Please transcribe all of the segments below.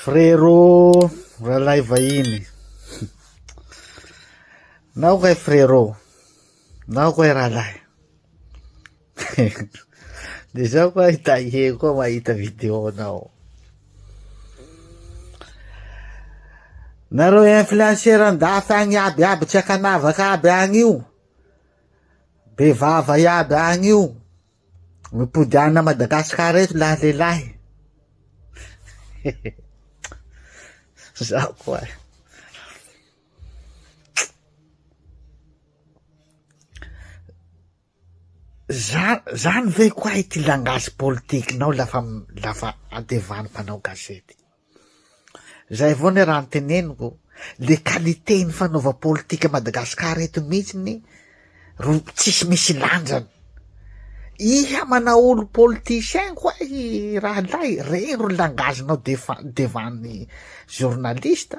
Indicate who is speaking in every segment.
Speaker 1: Frero ralahy vahiny. Nao kay frero. Nao kay ralahy. De zao koa hitahe koa mahita video nao. Nareo influenceur an-dafy agny aby aby tsy akanavaka aby agny io. Be vava iaby agny io. Mipody ana Madagascar eto lahy lehilahy zaho koa za zany ve koahy ty langage politikinao lafa lafa adevan'ny mpanao gazety. Zay avao ny raha niteneniko, le qualité ny fanaova politika Madagascar eto mihitsy ny ro tsisy misy lanjany. Iha manaolo politicien ko ahy rahalahy, regny ro langagenao devant ny journaliste.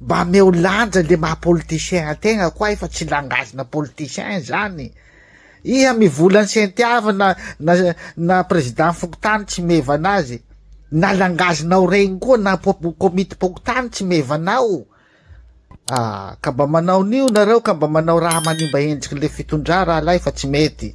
Speaker 1: Mba ameo lanja le maha politicien ategna koay fa tsy langage na politicien zany. Iha mivola ny sentiava na na na président fokontany tsy mevana azy. Na langage nao regny koa na komity pokontany tsy mevanao. Ah, ka mba manao nio nareo ka mba manao raha manimba endriky le fitondra rahalahy fa tsy mety.